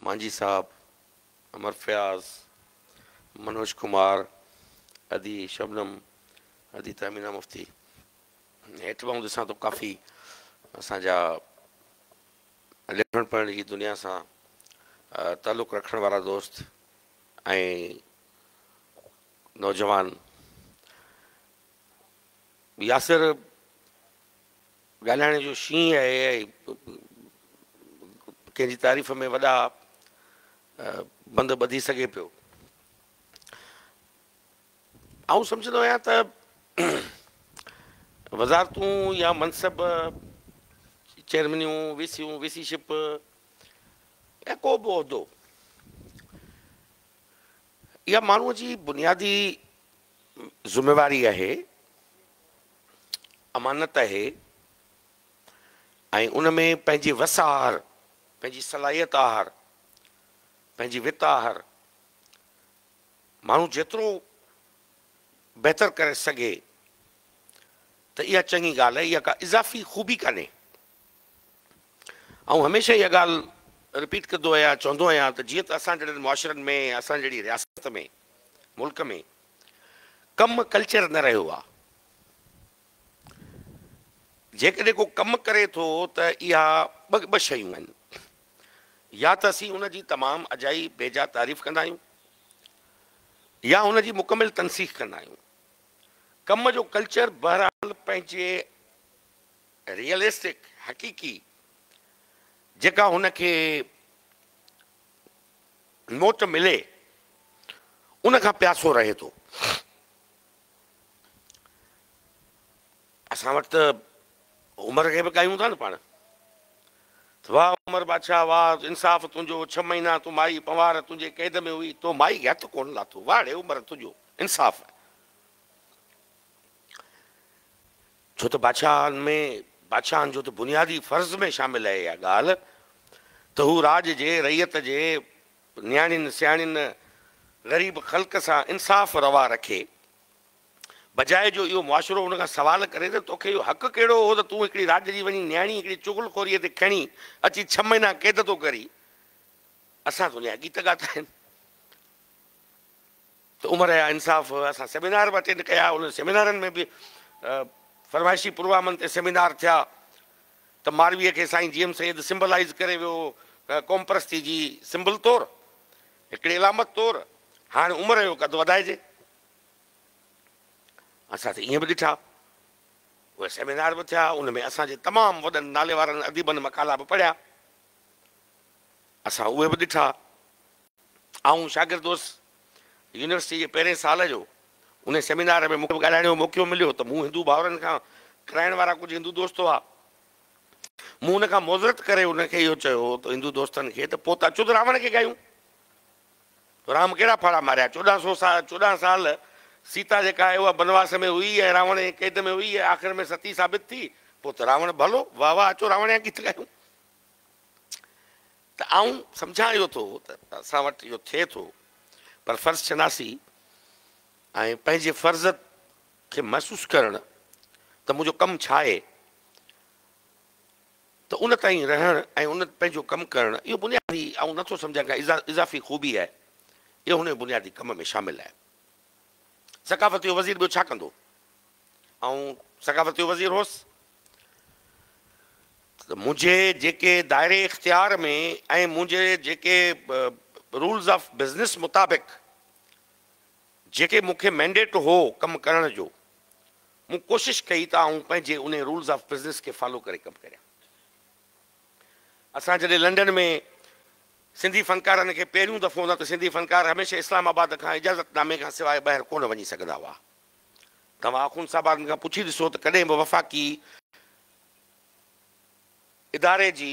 مانجهي صاحب، امر فياض، منوج ڪمار، ادي شبنم، ادي تهمينا مفتي هيٺ ٻانهون ڏسان ته ڪافي اسان جا لکڻ پڙهڻ جي دنيا سان تعلق رکڻ وارا دوست ۽ نوجوان ياسر ڳالهائڻ جو شينهن آهي اهي ڪنهن جي تعريف ۾ وڏا بند ٻڌي سگهي پيو. آئون سمجهندو آهيان ته وزارتون يا منصب، چيئرمينيون، وي سيون، وي سي شپ يا ڪو به عهدو اها ماڻهوء جي بنيادي ذميواري آهي، امانت آهي ۽ ان ۾ پنهنجي وس آهر، پنهنجي صلاحيت آهر، پنهنجي وت آهر ماڻهو جيترو بهتر ڪري سگهي ته اها چڱي ڳالهه آهي، اها ڪا اضافي خوبي ڪانهي. آئون هميشه اها ڳالهه رپيٽ ڪندو آهيان چوندو آهيان ته جيئن ته اسان جهڙن معاشرن ۾ ۽ اسان جهڙي رياست ۾ ملڪ ۾ ڪم ڪلچر نه رهيو آهي جيڪڏهن ڪو ڪم ڪري ٿو ته اها ٻه شيون آهن يا ته اسين ان جي تمام اجائي بيجا تعريف ڪندا آهيون يا ان جي مڪمل تنسيخ ڪندا آهيون ڪم جو ڪلچر بهرحال پنهنجي ريئلسٽڪ، حقيقي، جيڪا هن کي موٽ ملي ان کان پياسو رهي ٿو. اسان وٽ ته عمر کي به ڳايون ٿا نه پاڻ ته واه عمر بادشاهه واه انصاف تنهنجو ڇهه مهينا تون مائي پنوهار تنهنجي قيد ۾ هئي تو مائي کي هٿ ڪونه لاٿو واهڙي عمر تنهنجو انصاف. ڇو ته بادشاهن ۾ بادشاهن جو ته بنيادي فرض ۾ شامل اهي اها ڳالهه ته هو راڄ جي، رعيت جي، نياڻين، سياڻين، غريب خلق سان انصاف روا رکي، بجاء جو اهو معاشرو ان کان سوال ڪري ته توکي اهو حق ڪهڙو هو ته تون هڪڙي راڄ جي وڃي نياڻي هڪڙي چغل خوريء تي کڻي اچي ڇهه مهينا قيد ٿو ڪرين. اسان تنهنجا گيت ڳاتا آهن. ته عمر يا انصاف اسان سيمينار به اٽينڊ ڪيا انهن سيمينارن ۾ به فرمائشي پروامن تي سيمينار ٿيا ته مارويء کي سائين جي ايم سيد سمبلائيز ڪري ويو هو قوم پرستي جي سمبل طور هڪڙي علامت طور هاڻي عمر جو قد وڌائجي اسان ته ايئن به ڏٺا اهي سيمينار به ٿيا ان ۾ اسان جي تمام وڏن ناليوارن اديبن مقالا به پڙهيا اسان اهي به ڏٺا آئون شاگرد هوس، يونيورسٽيء جي پهرين سال جو. انهيء سيمينار ۾ مون کي به ڳالهائڻ جو موقعو مليو ته مون هندو ڀائرن کان ڪرائڻ وارا ڪجهه هندو دوست هئا. مون ان کان معذرت ڪري انهن کي اهو چيو هو ته هندو دوستن کي ته پوت اچو ته راوڻ کي ڳايون. رام ڪهڙا ڦاڙها ماريا؟ چوڏهن سو سال، چوڏهن سال سيتا جيڪا آهي اها بنواس ۾ هئي ۽ راوڻ ائين قيد ۾ هئي ۽ آخر ۾ ستي ثابت ٿي، پوء ته راوڻ ڀلو. واهه واهه اچو راوڻ جا گيت ڳايون. ته آئون سمجهان اهو ٿو ته اسان وٽ اهو ٿئي ٿو پر فرض شناسي ۽ پنهنجي فرض کي محسوس ڪرڻ ته منهنجو ڪم ڇا آهي ته ان تائين رهڻ ۽ ان پنهنجو ڪم ڪرڻ اهو بنيادي آئون نٿو سمجهان ڪا اضافي خوبي آهي اهو هن بنيادي ڪم ۾ شامل آهي ثقافت جو وزير ٻيو ڇا ڪندو آئون ثقافت جو وزير هوس ته منهنجي جيڪي دائري اختيار ۾ ۽ منهنجي جيڪي رولز آف بزنس مطابق جيڪي مون کي مينڊيٽ هو ڪم ڪرڻ جو، مون ڪوشش ڪئي ته آئون پنهنجي انهي رولز آف بزنس کي فالو ڪري ڪم ڪريان. اسان جڏهن لنڊن ۾ سنڌي فنڪارن کي پهريون دفعو نه ته سنڌي فنڪار هميشه اسلام آباد کان اجازت نامي کان سواء ٻاهر ڪونه وڃي سگهندا هئا. توهان آخوند صاحب آرمي کان پڇي ڏسو ته ڪڏهن به وفاقي اداري جي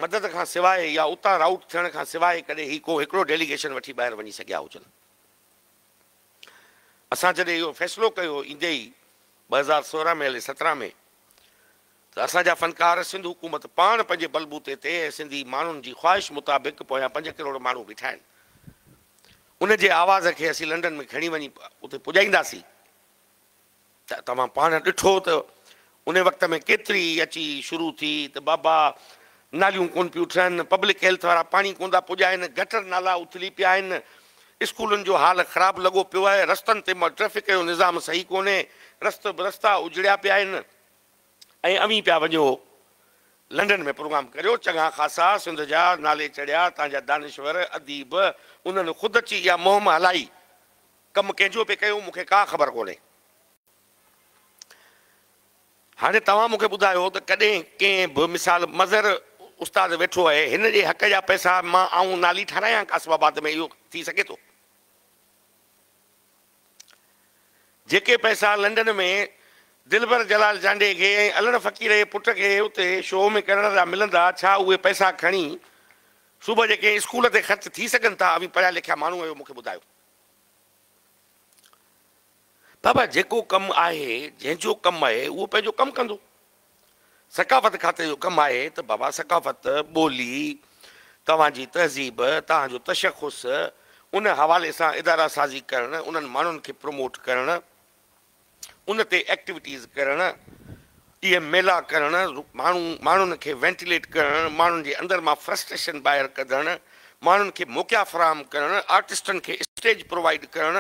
مدد کان سواء يا اتان رائوٽ ٿيڻ کان سواء ڪڏهن هي ڪو هڪڙو ڊيليگيشن وٺي ٻاهر وڃي سگهيا هجن. اسان جڏهن اهو فيصلو ڪيو ايندي ئي ٻه هزار سورهن ۾ هلي سترهن ۾. ته اسان جا فنڪار سنڌ حڪومت پاڻ پنهنجي بلبوتي تي ۽ سنڌي ماڻهن جي خواهش مطابق پويان پنج ڪروڙ ماڻهو بيٺا آهن ان جي آواز کي اسين لنڊن ۾ کڻي وڃي اتي پڄائينداسين ته توهان پاڻ ڏٺو ته ان وقت ۾ ڪيتري اچي شروع ٿي ته بابا ناليون ڪون پيون ٺهن پبلڪ هيلٿ وارا پاڻي ڪون ٿا پڄائين گٽر نالا اٿلي پيا آهن اسڪولن جو حال خراب لڳو پيو آهي رستن تي ٽريفڪ جو نظام صحيح ڪونهي رست برستا اجڙيا پيا آهن. ۽ اوهين پيا وڃو لنڊن ۾ پروگرام ڪريو، چڱا خاصا سنڌ جا نالي چڙهيا، تان جا دانشور، اديب، انهن خود اچي اها مهم هلائي، ڪم ڪنهن جو پئي ڪيون مون کي ڪا خبر ڪونهي. هاڻي توهان مون کي ٻڌايو ته ڪڏهن ڪنهن به مثال مظهر استاد ويٺو آهي هن جي حق جا پئسا مان آئون نالي ٺارايان قاسم آباد ۾ اهو ٿي سگهي ٿو؟ جيڪي پئسا لنڊن ۾ دلبر جلال جانڊي کي ۽ الھڙ فقير جي پٽ کي اتي شو ۾ ڪرڻ جا ملندا، ڇا اھي پئسا کڻي صوبه جي ڪنھن اسڪول تي خرچ ٿي سگھن ٿا؟ اوھين پڙھيا لکيا ماڻھو آھيو، مون کي ٻڌايو. بابا جيڪو ڪم آھي، جنھن جو ڪم آھي، اھو پنھنجو ڪم ڪندو. ثقافت کاتي جو ڪم آهي ته بابا ثقافت، ٻولي، توهان جي تهذيب، توهان جو تشخص، ان حوالي سان اداره سازي ڪرڻ، انهن ماڻهن کي پروموٽ ڪرڻ، ان تي ايڪٽيوٽيز ڪرڻ، اهي ميلا ڪرڻ، ماڻهو ماڻهن کي وينٽيليٽ ڪرڻ، ماڻهن جي اندر مان فرسٽريشن ٻاهر ڪڍڻ، ماڻهن کي موقعا فراهم ڪرڻ، آرٽسٽن کي اسٽيج پرووائيڊ ڪرڻ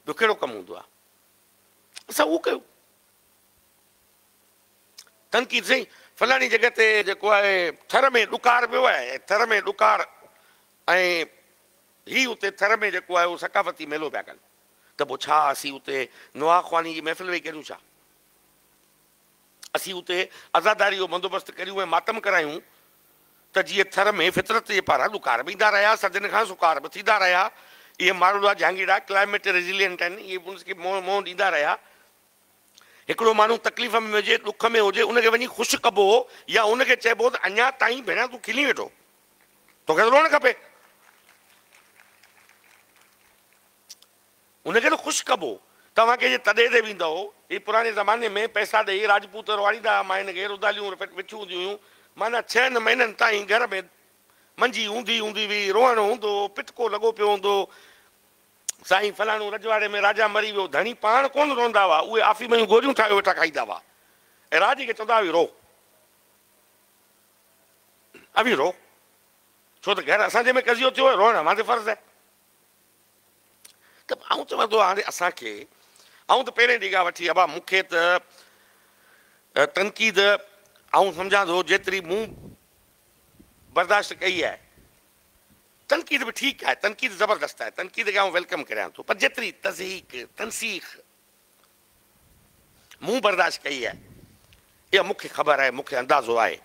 جو ڪهڙو ڪم هوندو آهي؟ اسان اهو ڪيون. تنقيد، سائين فلاڻي جڳهه تي جيڪو آهي ٿر ۾ ڏڪار پيو آهي ۽ ٿر ۾ ڏڪار ۽ هي اتي ٿر ۾ جيڪو آهي اهو ثقافتي ميلو پيا ڪن ته پوء ڇا اسين اتي نواخواني جي محفل ويهي ڪريون ڇا؟ اسين اتي عزاداريء جو بندوبست ڪريون ۽ ماتم ڪرايون ته جيئن ٿر ۾ فطرت جي پاران ڏڪار به ايندا رهيا، سدين کان سڪار به ٿيندا رهيا. اهي ماروئڙا جهانگيئڙا ڪلائميٽ ريزيليئنٽ آهن، اهي به ان کي منهن ڏيندا رهيا. هڪڙو ماڻهو تڪليف ۾ هجي، ڏک ۾ هجي، ان کي وڃي خوش ڪبو هو يا ان کي چئبو هو ته اڃا تائين ڀيڻا تون کلين ويٺو، توکي ته روئڻ کپي. ان کي نه خوش ڪبو. توهان ڪنهن جي تڏي تي ويندؤ؟ هي پراڻي زماني ۾ پئسا ڏئي راجپوت رئواڙيندا ها، ماين کي رڌاليون وٺيون هونديون هيون، معنيٰ ڇهن مهينن تائين گهر ۾ منجي اوندهي هوندي هئي، روئڻ هوندو هو، پٽڪو لڳو پيو هوندو هو، سائين فلاڻو رجواڙي ۾ راجا مري ويو، ڌڻي پاڻ ڪونه روئندا هئا، اهي آفيم جون گوريون ٺاهيو ويٺا کائيندا هئا ۽ راڄ کي چوندا هئي رو اوهين رو، ڇو ته گهر اسان جي ۾ قضيو ٿيو هي، روئڻ اوهان تي فرض آهي. ته آئون چوان ٿو هاڻي اسان کي آئون ته پهرين نگاهه وٺي ابا مون کي ته تنقيد آئون سمجهان ٿو جيتري مون برداشت ڪئي آهي تنقيد به ٺيڪ آهي تنقيد زبردست آهي تنقيد کي آئون ويلڪم ڪريان ٿو پر جيتري تضحيق تنسيخ مون برداشت ڪئي آهي اها مون کي خبر آهي، مون کي اندازو آهي.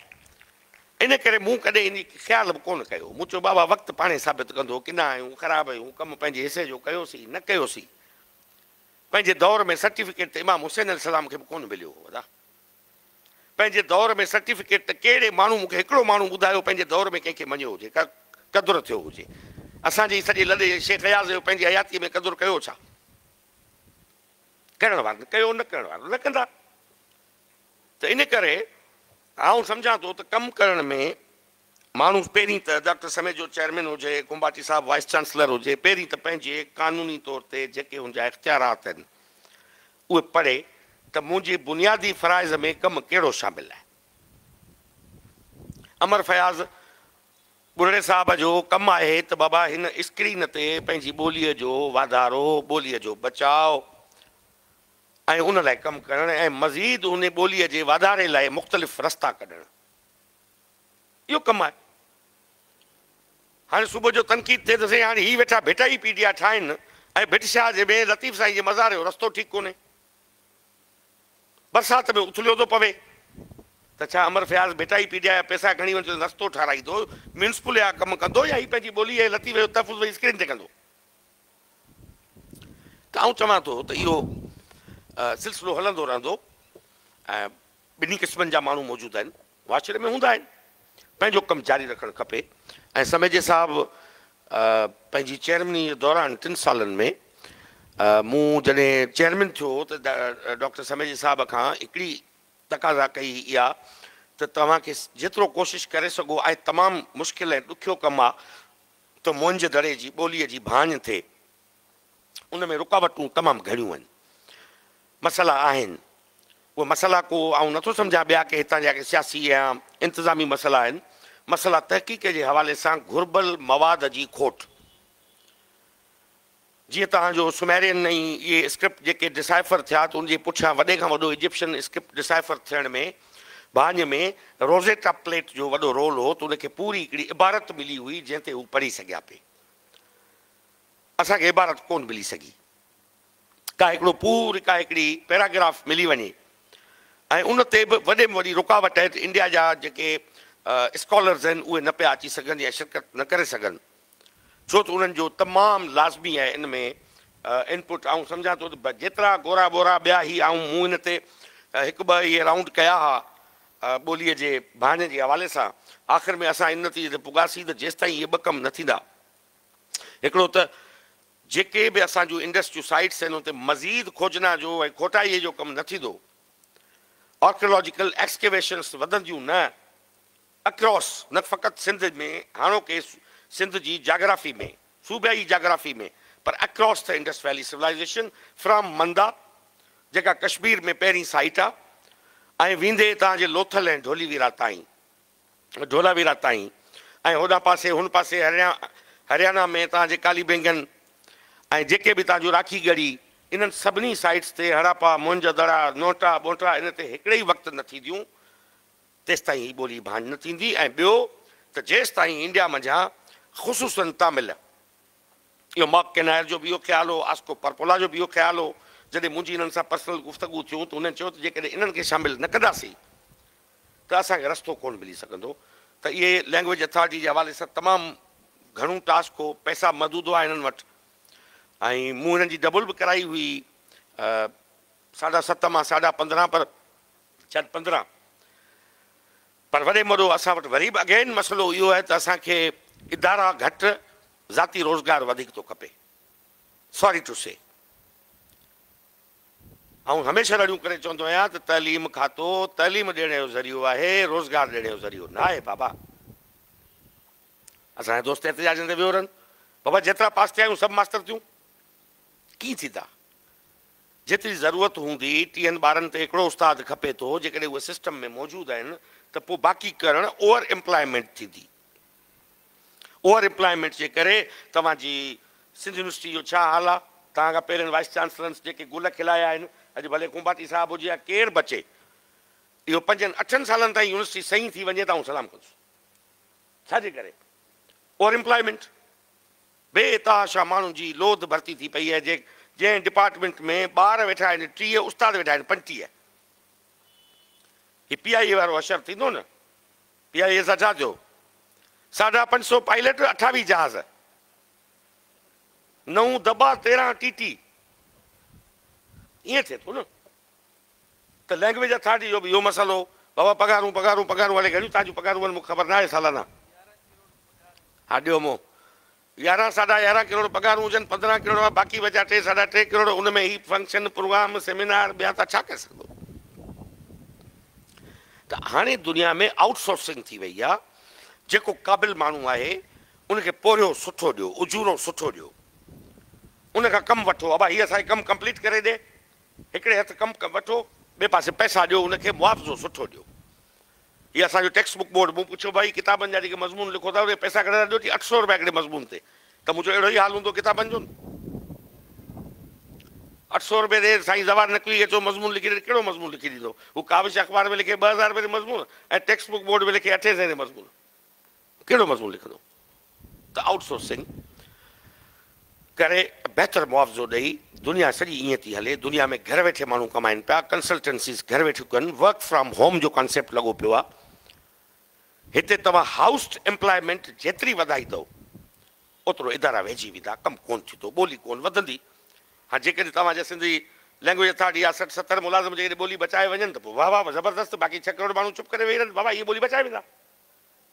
ان ڪري مون ڪڏهن ان کي خيال به ڪونه ڪيو. مون چيو بابا وقت پاڻهي ثابت ڪندو ڪنا آهيون، خراب آهيون، ڪم پنهنجي حصي جو ڪيوسين، نه ڪيوسين. پنهنجي دور ۾ سرٽيفڪيٽ ته امام حسين عليه السلام کي به ڪونه مليو هو ادا. پنهنجي دور ۾ سرٽيفڪيٽ ته ڪهڙي ماڻهو مون کي هڪڙو ماڻهو ٻڌايو پنهنجي دور ۾ ڪنهن کي مڃيو هجي ڪا قدر ٿيو هجي. اسان جي سڄي لڏي شيخ اياز جو پنهنجي حياتيء ۾ قدر ڪيو ڇا؟ ڪرڻ وارن ڪيو نه ڪرڻ وارن نه ڪندا ته ان ڪري آئون سمجهان ٿو ته ڪم ڪرڻ ۾ ماڻهو پهرين ته ڊاڪٽر سميجو چيئرمين هجي کنڀاٽي صاحب وائيس چانسلر هجي پهرين ته پنهنجي قانوني طور تي جيڪي هن جا اختيارات آهن اهي پڙهي ته منهنجي بنيادي فرائض ۾ ڪم ڪهڙو شامل آهي امر فياض ٻرڙي صاحب جو ڪم آهي ته بابا هن اسڪرين تي پنهنجي ٻوليء جو واڌارو، ٻوليء جو بچاء ۽ ان لاء ڪم ڪرڻ ۽ مزيد ان ٻوليء جي واڌاري لاء مختلف رستا ڪڍڻ اهو ڪم آهي. هاڻي صبح جو تنقيد ٿئي ته سائين هاڻي هي ويٺا ڀٽائي پي ڊي آ ٺاهين ۽ ڀٽ شاهه جي ۾ لطيف سائين جي مزار جو رستو ٺيڪ ڪونهي. برسات ۾ اٿليو ٿو پوي ته ڇا Amar Fayaz Bhittai P D A جا پيسا کڻي وڃي اتي رستو ٺاراهيندو، ميونسپل جا ڪم ڪندو يا هي پنهنجي ٻولي ۽ لطيفي جو تحفظ وڃي اسڪرين تي ڪندو؟ ته آئون چوان ٿو ته اهو سلسلو هلندو رهندو ۽ ٻنهي قسمن جا ماڻهو موجود آهن. واچڙي ۾ هوندا آهن پنهنجو ڪم جاري رکڻ کپي ۽ سميجي صاحب پنهنجي چيئرمني دوران ٽن سالن ۾ مون جڏهن چيئرمين ٿيو ته ڊاڪٽر سميجي صاحب کان هڪڙي تقاضا ڪئي هئي اها ته توهان کي جيترو ڪوشش ڪري سگهو آهي تمام مشڪل ۽ ڏکيو ڪم آهي ته منهنجي دڙي جي ٻولي جي ڀاڃ ٿئي ان ۾ رڪاوٽون تمام گهڻيون آهن. مسئلا آهن. اهي مسئلا ڪو آئون نٿو سمجهان ٻيا ڪي هتان جا ڪي سياسي يا انتظامي مسئلا آهن. مسئلا تحقيق جي حوالي سان گهربل مواد جي کوٽ. جيئن توهان جو سوميرين ۽ اهي اسڪرپٽ جيڪي ڊسائفر ٿيا ته ان جي پٺيان وڏي کان وڏو ايجپشن اسڪرپٽ ڊسائفر ٿيڻ ۾ ڀاڃ ۾ روزيٽا پليٽ جو وڏو رول هو ته ان کي پوري هڪڙي عبارت ملي هئي جنهن تي هو پڙهي سگهيا پي. اسان کي عبارت ڪونه ملي سگهي. ڪا هڪڙو پوري ڪا هڪڙي پيراگراف ملي وڃي ۽ ان تي به وڏي ۾ وڏي رڪاوٽ آهي ته انڊيا جا جيڪي اسڪالرز آهن اهي نه پيا اچي سگهن يا شرڪت نه ڪري سگهن ڇو ته انهن جو تمام لازمي آهي ان ۾ ان پٽ آئون سمجهان ٿو ته جيترا گورا ٻورا ٻيا هي آئون مون ان تي هڪ ٻه اهي رائونڊ ڪيا ها ٻولي جي ڀانئن جي حوالي سان آخر ۾ اسان ان نتيجي تي پڳاسين ته جيستائين اهي ٻه ڪم نه ٿيندا هڪڙو ته جيڪي به اسان جون انڊسٽريون سائيٽس آهن ان تي مزيد کوجنا جو ۽ کوٽائيء جو ڪم نه ٿيندو، آرڪيالاجيڪل ايڪسڪيويشنس وڌنديون نه اڪراس نه فقط سنڌ ۾ هاڻوڪي سنڌ جي جاگرافي ۾، صوبائي جاگرافي ۾، پر across the Indus valley civilisation from Manda جيڪا ڪشمير ۾ پهرين سائيٽ آ ۽ ويندي تان جي لوٿل ۽ ڍوليويرا تائين. ڍولياويرا تائين ۽ هوڏان پاسي هن پاسي هريانا ۾ تان جي ڪالي بينگن ۽ جيڪي به تان جون راکي ڳڙي انهن سڀني سائيٽس تي هڙاپا، مونجه دڙا، نوٽا، ٻونٽا ان تي هڪڙي ئي وقت نه ٿينديون تيستائين هي ٻولي ڀاڃ نه ٿيندي ۽ ٻيو ته جيستائين انڊيا منجهان خصوصاً تامل اهو ماڪ ڪينائر جو به اهو خيال هو، آسڪو پرپولا جو به اهو خيال هو، جڏهن منهنجي انهن سان پرسنل گفتگو ٿيون ته هنن چيو ته جيڪڏهن انهن کي شامل نه ڪنداسين ته اسان کي رستو ڪونه ملي سگهندو ته اهي لينگويج اٿارٽي جي حوالي سان تمام گهڻو ٽاسڪ هو پئسا محدود هئا هنن وٽ ۽ مون هنن جي ڊبل به ڪرائي هئي ساڍا ست مان ساڍا پندرهن پر شايد پندرهن پر وڏي مڙو اسان وٽ وري به اگين مسئلو اهو آهي ته اسان کي ادارا گهٽ ذاتي روزگار وڌيڪ ٿو کپي ساري ٽو سي آئون هميشه رڙيون ڪري چوندو آهيان ته تعليم کاتو تعليم ڏيڻ جو ذريعو آهي، روزگار ڏيڻ جو ذريعو نه آهي بابا. اسان جا دوست احتجاجن تي ويهو رهن، بابا جيترا پاس ٿيا آهيون سڀ ماستر ٿيون؟ ڪيئن ٿيندا؟ جيتري ضرورت هوندي ٽيهن ٻارن تي هڪڙو استاد کپي ٿو، جيڪڏهن اهي سسٽم ۾ موجود آهن ته پوء باقي ڪرڻ اوور ايمپلائمينٽ ٿيندي. اوور ايمپلائمينٽ جي ڪري توهان جي سنڌ يونيورسٽي جو ڇا حال آ؟ توهان کان پهرين وائيس چانسلرنس جيڪي گل کلايا آهن، اڄ ڀلي ڪنڀاٽي صاحب هجي يا ڪير به اچي، اهو پنجن اٺن سالن تائين يونيورسٽي سهين ٿي وڃي ته آئون سلام ڪندس. ڇا جي ڪري؟ Over employment. بي تحاشا ماڻهن جي لوڌ ڀرتي ٿي پئي آهي، جنهن ڊپارٽمينٽ ۾ ٻار ويٺا آهن ٽيهه، استاد ويٺا آهن پنجٽيهه. هي پي آء اي وارو حشر ٿيندو نه پي آء اي زجاج جو ساڍا پنج سؤ پائليٽ اٺاويهه جهاز، نو دٻا تيرهن ٽي ٽي ائين ٿئي ٿو نه ته لينگويج اٿارٽي جو به اهو مسئلو بابا پگهارون پگهارون پگهارون هاڻي گهڻيون تنهنجون پگهارون آهن مون کي خبر ناهي سالانه ها ڏيو مون يارهن ساڍا يارهن ڪروڙ پگهارون هجن، پندرهن ڪروڙ مان باقي بچيا ٽي ساڍا ٽي ڪروڙ، ان ۾ هي فنڪشن، پروگرام، سيمينار ٻيا ته ڇا ڪري سگهندو؟ ته هاڻي دنيا ۾ آئوٽ سورسنگ ٿي وئي آهي، جيڪو قابل ماڻهو آهي ان کي پورهيو سٺو ڏيو، اجورو سٺو ڏيو، ان کان ڪم وٺو، ابا هي اسان کي ڪم ڪمپليٽ ڪري ڏي، هڪڙي هٿ ڪم وٺو، ٻئي پاسي پئسا ڏيو، ان کي معاوضو سٺو ڏيو. هي اسان جو ٽيڪسٽ بڪ بورڊ. مون پڇيو، ڀائي ڪتابن جا جيڪي مضمون لکو ٿا، اهي پئسا گهڻي ٿا ڏيو؟ چي اٺ سؤ روپيا هڪڙي مضمون تي. ته مون چيو اهڙو ئي حال هوندو ڪتابن جو نه؟ اٺ سؤ روپيه ڏي، سائين زوار نقوي اچو مضمون لکي ڏي، ڪهڙو مضمون لکي ڏيندو؟ هو ڪاوش اخبار ۾ لکي ٻه هزار روپيه تي مضمون ۽ ٽيڪسٽ بڪ بورڊ ۾ لکي اٺين سئين تي مضمون. ڪهڙو مضمون لکندو ته آئوٽ سورسنگ ڪري بهتر معاوضو ڏئي، دنيا سڄي ائين ٿي هلي، دنيا ۾ گهر ويٺي ماڻهو ڪمائن پيا، ڪنسلٽنسيز گهر ويٺيون ڪن، ورڪ فرام هوم جو ڪانسيپٽ لڳو پيو آهي، هتي توهان هائوسٽ ايمپلائمينٽ جيتري وڌائيندؤ اوترو ادارا ويجهي ويندا، ڪم ڪونه ٿيندو، ٻولي ڪونه وڌندي، ها جيڪڏهن توهان جي سنڌي لئنگويج اٿارٽي يا سٺ ستر ملازم جيڪڏهن ٻولي بچائي وڃن ته پوء واهه واهه زبردست، باقي ڇهه ڪروڙ ماڻهو چپ ڪري ويهي رهن، بابا اهي ٻولي بچائي ويندا.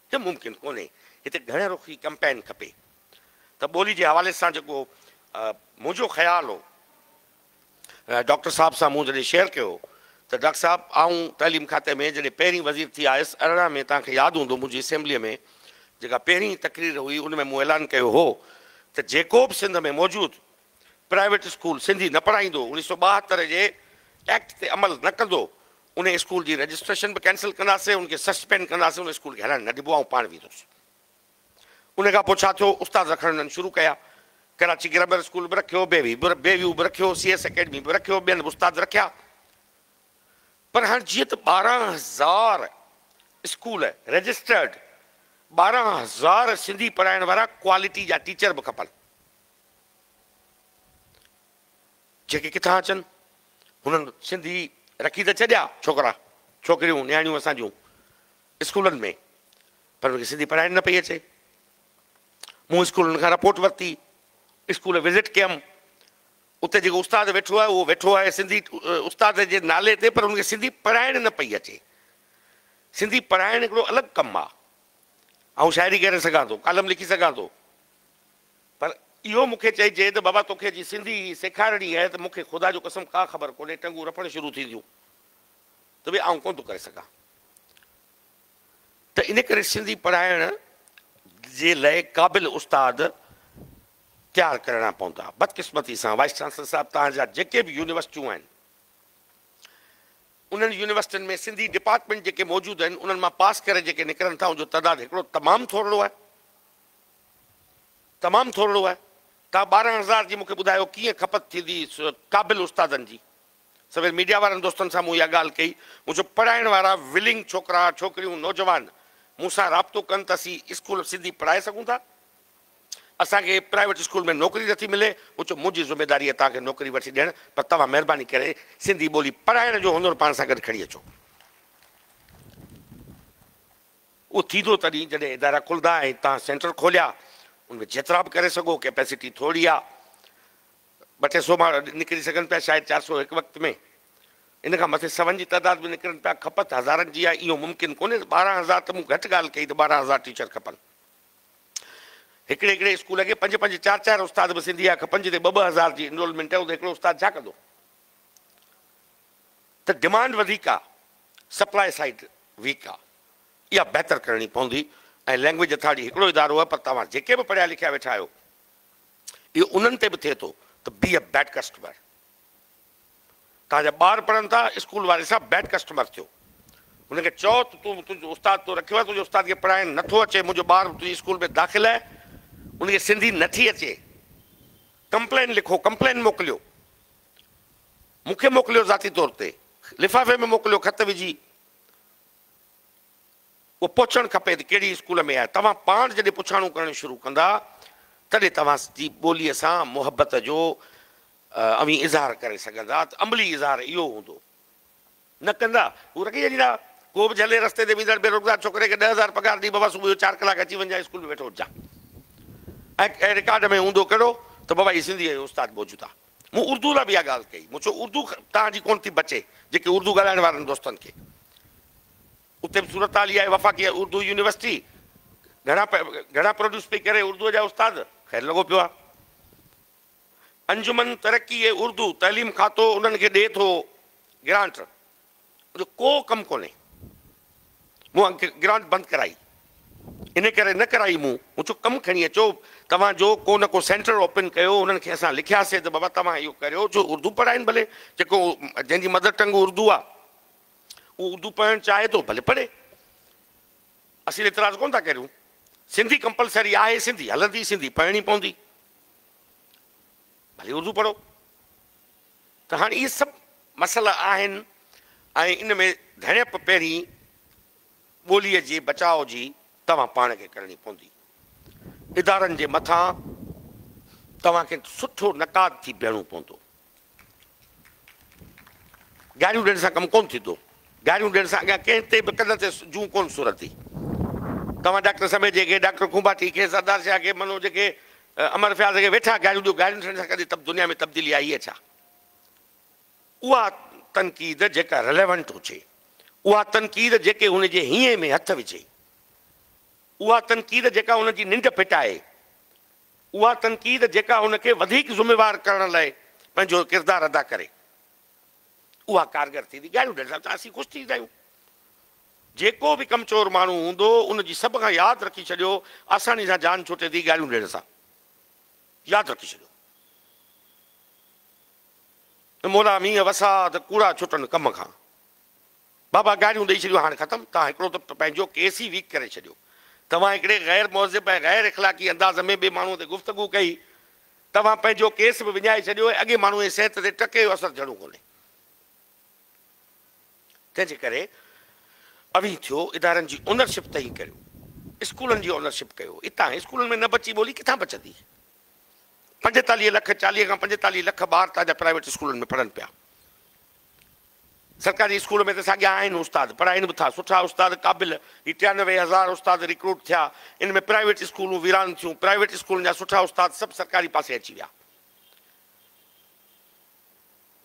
ته ممڪن ڪونهي. هتي گهڻ رخي ڪمپين کپي. ته ٻولي جي حوالي سان جيڪو منهنجو خيال هو، ڊاڪٽر صاحب سان مون جڏهن شيئر ڪيو هو ته ڊاڪٽر صاحب آئون تعليم کاتي ۾ جڏهن پهرين وزير ٿي آيس ارڙهن ۾ توهان کي ياد هوندو منهنجي اسيمبليء ۾ جيڪا پهرين تقرير هئي ان ۾ مون اعلان ڪيو هو ته جيڪو به سنڌ ۾ موجود پرائيويٽ اسڪول سنڌي نه پڙهائيندو، اڻيهه سؤ ٻاهتر جي ايڪٽ تي عمل نه ڪندو، ان اسڪول جي رجسٽريشن به ڪينسل ڪنداسين، ان کي سسپينڊ ڪنداسين، ان اسڪول کي هلڻ نه ڏبو، آئون پاڻ ويندس. ان کان پوء ڇا ٿيو، استاد رکڻ هنن شروع ڪيا، ڪراچي گرامر اسڪول به رکيو، بي وي بي ويو به رکيو، سي ايس اڪيڊمي به رکيو، ٻين به استاد رکيا، پر هاڻ جيئن ته ٻارهن هزار اسڪول رجسٽرڊ، ٻارهن هزار سنڌي پڙهائڻ وارا ڪوالٽي جا ٽيچر به کپن. جيڪي ڪٿان اچن هنن سنڌي رکي ته ڇڏيا ڇوڪرا ڇوڪريون نياڻيون اسان جون اسڪولن ۾ پر انکي سنڌي پڙهائڻ نه پئي اچي مون اسڪولن کان رپورٽ ورتي اسڪول وزٽ ڪيم اتي جيڪو استاد ويٺو آهي اهو ويٺو آهي سنڌي استاد جي نالي تي پر انکي سنڌي پڙهائڻ نه پئي اچي سنڌي پڙهائڻ هڪڙو الڳ ڪم آهي آئون شاعري ڪري سگهان ٿو ڪالم لکي سگهان ٿو پر اهو مون کي چئجي ته بابا توکي جي سنڌي سيکارڻي آهي ته مون کي خدا جو قسم ڪا خبر ڪونهي ٽنگون رڦڻ شروع ٿينديون ته به آئون ڪونه ٿو ڪري سگهان ته ان ڪري سنڌي پڙهائڻ جي لاء قابل استاد تيار ڪرڻا پوندا بدقسمتي سان وائيس چانسلر صاحب توهان جا جيڪي به يونيورسٽيون آهن انهن يونيورسٽين ۾ سنڌي ڊپارٽمينٽ جيڪي موجود آهن انهن مان پاس ڪري جيڪي نڪرن ٿا ان جو تعداد هڪڙو تمام ٿورڙو آهي تمام ٿورڙو آهي. تان ٻارهن هزار جي مون کي ٻڌايو ڪيئن کپت ٿيندي قابل استادن جي. سوير ميڊيا وارن دوستن سان مون اها ڳالهه ڪئي. مون چيو پڙهائڻ وارا ولنگ ڇوڪرا ڇوڪريون نوجوان مون سان رابطو ڪن ته اسين اسڪول سنڌي پڙهائي سگهون ٿا. اسان کي پرائيويٽ اسڪول ۾ نوڪري نه ٿي ملي. مون چيو منهنجي ذميداري آهي توهان کي نوڪري وٺي ڏيڻ پر توهان مهرباني ڪري سنڌي ٻولي پڙهائڻ جو هنر پاڻ سان گڏ کڻي اچو. اهو ٿيندو تڏهن جڏهن ادارا کلندا ۽ توهان سينٽر کوليا ان ۾ جيترا به ڪري سگهو ڪيپيسٽي ٿورڙي آ ٻه ٽي سو ماڻهو نڪري سگهن پيا شايد چار سو هڪ وقت ۾ ان کان مٿي سون جي تعداد ۾ نڪرن پيا کپت هزارن جي آ اهو ممڪن ڪونهي ته ٻارهن هزار ته مون گهٽ ڳالهه ڪئي ته ٻارهن هزار ٽيچر کپن هڪڙي هڪڙي اسڪول کي پنج پنج چار چار استاد به سنڌي جا کپن جتي ٻه ٻه هزار جي انرولمينٽ آهي اتي هڪڙو استاد ڇا ڪندو ته ڊمانڊ وڌيڪ آ سپلاء سائيڊ ويڪ آ اها بهتر ڪرڻي پوندي ۽ لينگويج اٿارٽي هڪڙو ادارو آ پر توهان جيڪي به پڙهيا لکيا ويٺا آهيو اهو انهن تي به ٿئي ٿو ته بي اي بيڊ ڪسٽمر توهان جا ٻار پڙهن ٿا اسڪول واري سان بيڊ ڪسٽمر ٿيو هن کي چئو ته تون تنهنجو استاد تو رکيو آ تنهنجي استاد کي پڙهائڻ نه ٿو اچي منهنجو ٻار تنهنجي اسڪول ۾ داخل آهي ان کي سنڌي نه ٿي اچي ڪمپلين لکو ڪمپلين موڪليو مون کي موڪليو ذاتي طور تي لفافي ۾ موڪليو خط وجهي اهو پهچڻ کپي ته ڪهڙي اسڪول ۾ آهي توهان پاڻ جڏهن پڇاڻو ڪرڻ شروع ڪندا تڏهن توهان جي ٻولي سان محبت جو اوهين اظهار ڪري سگهندا ته عملي اظهار اهو هوندو. نه ڪندا، هو رڳي اهڙي راهه ڪو به جهلي رستي تي ويندڙ بيروزگار ڇوڪري کي ڏهه هزار پگهار ڏئي بابا صبح جو چار ڪلاڪ اچي وڃجانء اسڪول ۾ ويٺو هججان ۽ رڪارڊ ۾ هوندو ڪهڙو ته بابا هي سنڌي ۽ استاد موجودا مون اردو لاء به اها ڳالهه ڪئي مون چيو اردو توهان جي ڪونه ٿي بچي جيڪي اردو ڳالهائڻ وارن دوستن کي اتي به صورتحال اها آهي وفاقي اردو يونيورسٽي گهڻا گهڻا پروڊيوس پئي ڪري اردو جا استاد خير لڳو پيو آهي انجمن ترقي اردو تعليم کاتو انهن کي ڏئي ٿو گرانٽ جو ڪو ڪم ڪونهي مون گرانٽ بند ڪرائي ان ڪري نه ڪرائي مون مون چيو ڪم کڻي اچو توهان جو ڪو نه ڪو سينٽر اوپن ڪيو انهن کي اسان لکياسي ته بابا توهان اهو ڪريو جو اردو پڙهائين ڀلي جيڪو جنهن جي مدر ٽنگ اردو آ اهو اردو پڙهڻ چاهي ٿو ڀلي پڙهي اسين اعتراض ڪون ٿا ڪريون سنڌي ڪمپلسري آهي سنڌي هلندي سنڌي پڙهڻي پوندي ڀلي اردو پڙهو ته هاڻي اهي سڀ مسئلا آهن ۽ ان ۾ ڌڻيپ پهرين ٻوليء جي بچاء جي توهان پاڻ کي ڪرڻي پوندي. ادارن جي مٿان توهان کي سٺو نقاد ٿي بيهڻو پوندو. گاريون ڏيڻ سان ڪم ڪون ٿيندو. گاريون ڏيڻ سان اڳيان ڪنهن تي به ڪن تي جون ڪون سرندي. توهان ڊاڪٽر سميجي کي، ڊاڪٽر کونڀاٽي کي، سردار شاهه کي، منوج کي، امر فياض کي ويٺا گاريون ڏيو. گاريون ڏيڻ سان ڪڏهن دنيا ۾ تبديلي آئي آهي ڇا؟ اها تنقيد جيڪا رليونٽ هجي. اها تنقيد جيڪي هن جي هينئين ۾ هٿ وجهي. اها تنقيد جيڪا هن جي ننڊ ڦٽائي. اها تنقيد جيڪا هن کي وڌيڪ ذميوار ڪرڻ لاء پنهنجو ڪردار ادا ڪري اها ڪارگر ٿيندي. ڳايون ڊئل صاحب سان اسين خوش ٿيندا آهيون. جيڪو به ڪمچور ماڻهو هوندو ان جي سڀ کان ياد رکي ڇڏيو آساني سان جان ڇٽي ٿي ڳايون ڏيڻ سان ياد رکي ڇڏيو مولا مينهن وسا ته ڪوڙا ڇٽن ڪم کان. بابا گاريون ڏئي ڇڏيون هاڻ ختم توهان هڪڙو ته پنهنجو ڪيس ئي ويڪ ڪري ڇڏيو توهان هڪڙي غير مهذب ۽ غير اخلاقي انداز ۾ ٻي ماڻهو تي گفتگو ڪئي توهان پنهنجو ڪيس به وڃائي ڇڏيو ۽ اڳئي ماڻهو جي صحت تي ٽڪ جو اثر جھڙو ڪونهي تنهن جي ڪري اوهين ٿيو ادارن جي اونر شپ ته ائين ڪريو اسڪولن جي اونر شپ ڪيو اتان اسڪولن ۾ نه بچي ٻولي ڪٿان بچندي پنجيتاليهه لک چاليهه کان پنجيتاليهه لک ٻار تنهنجا پرائيويٽ اسڪولن ۾ پڙهن پيا سرڪاري اسڪول ۾ ته ساڳيا آهن استاد پڙهائين به ٿا سٺا استاد قابل هي ٽيانوي هزار استاد رڪروٽ ٿيا ان ۾ پرائيويٽ اسڪولون ويران ٿيون پرائيويٽ اسڪولن جا سٺا استاد سڀ سرڪاري پاسي اچي ويا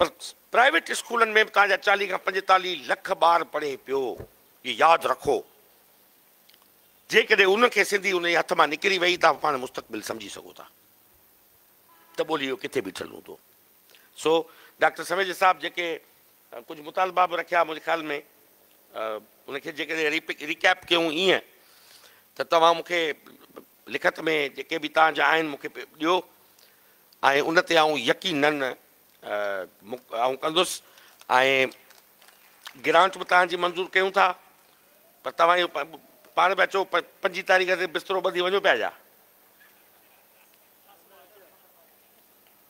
پر پرائيويٽ اسڪولن ۾ به توهان جا چاليهه کان پنجيتاليهه لک ٻار پڙهي پيو هي ياد رکو جيڪڏهن ان کي سنڌي ان جي هٿ مان نڪري وئي توهان پاڻ مستقبل سمجهي سگهو ٿا ته ٻولي جو ڪٿي بيٺل هوندو سو ڊاڪٽر سميجي صاحب جيڪي ڪجهه مطالبا به رکيا منهنجي خيال ۾ ان کي جيڪڏهن ريڪيپ ڪيون ايئن ته توهان مون کي لکت ۾ جيڪي به توهان جا آهن مون کي ڏيو ۽ ان تي آئون يقينن آئون ڪندس ۽ گرانٽ به توهان جي منظور ڪيون ٿا پر توهان اهو پاڻ پيا چئو پنجين تاريخ تي بسترو ٻڌي وڃو پيا جا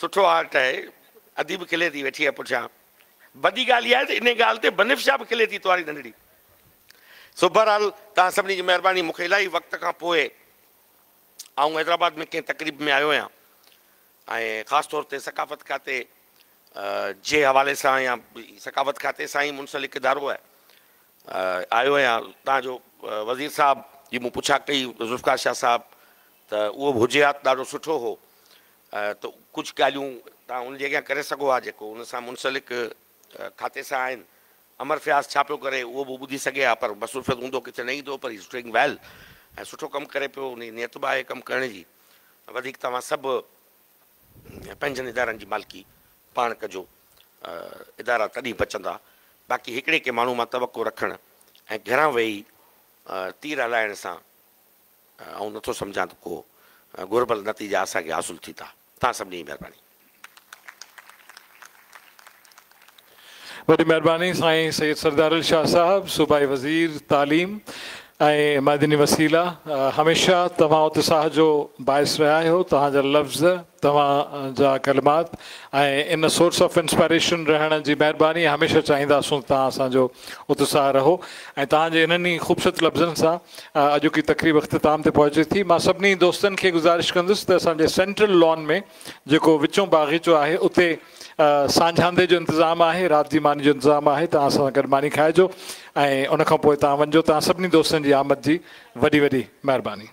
سٺو آرٽ آهي ادي به کلي ٿي ويٺي آهي پٺيان وڏي ڳالهه اها آهي ته انهي ڳالهه تي بنفشه به کلي ٿي توهاري ننڍڙي سو بهرحال توهان سڀني جي مهرباني مونکي الاهي وقت کان پوء آئون حيدرآباد ۾ ڪنهن تقريب ۾ آيو آهيان ۽ خاص طور تي ثقافت کاتي جي حوالي سان يا ثقافت کاتي سان ئي منسلڪ ادارو آهي آيو آهيان توهان جو وزير صاحب جي مون پڇا ڪئي ذوالفقار شاهه صاحب ته اهو به هجي ها ته ڏاڍو سٺو هو ته ڪجهه ڳالهيون توهان ان جي اڳيان ڪري سگهو ها جيڪو ان سان منسلڪ کاتي سان آهن. امر فياض ڇا پيو ڪري اهو به ٻڌي سگهي ها پر مصروفيت هوندو ڪٿي نه ايندو پر هي از ڊوئنگ ويل ۽ سٺو ڪم ڪري پيو ان جي نيت به آهي ڪم ڪرڻ جي وڌيڪ توهان سڀ پنهنجن ادارن جي مالڪي پاڻ ڪجو ادارا تڏهن بچندا باقي هڪڙي ڪي ماڻهو مان توقع رکڻ ۽ گهران ويهي تير هلائڻ سان آئون نٿو سمجهان ته ڪو گهربل نتيجا اسان کي حاصل ٿي ٿا. توهان سڀني جي مهرباني. وڏي مهرباني سائين سيد سردارل شاهه صاحب صوبائي وزير تعليم ۽ معدني وسيلا هميشه توهان اتساهه جو باعث رهيا آهيو توهان جا لفظ توهان جا ڪلمات ۽ ان سورس آف انسپائريشن رهڻ جي مهرباني هميشه چاهينداسون توهان اسان جو اتساهه رهو ۽ توهان جي انهن ئي خوبصورت لفظن سان اڄوڪي تقريب اختتام تي پهچي ٿي مان سڀني دوستن کي گذارش ڪندس ته اسان جي سينٽرل لان ۾ جيڪو وچون باغيچو آهي اتي سانجهاندي جو انتظام آهي رات جي ماني جو انتظام آهي توهان اسان سان گڏ ماني کائجو ۽ ان کان پوء توهان وڃجو توهان سڀني دوستن جي آمد جي وڏي وڏي مهرباني.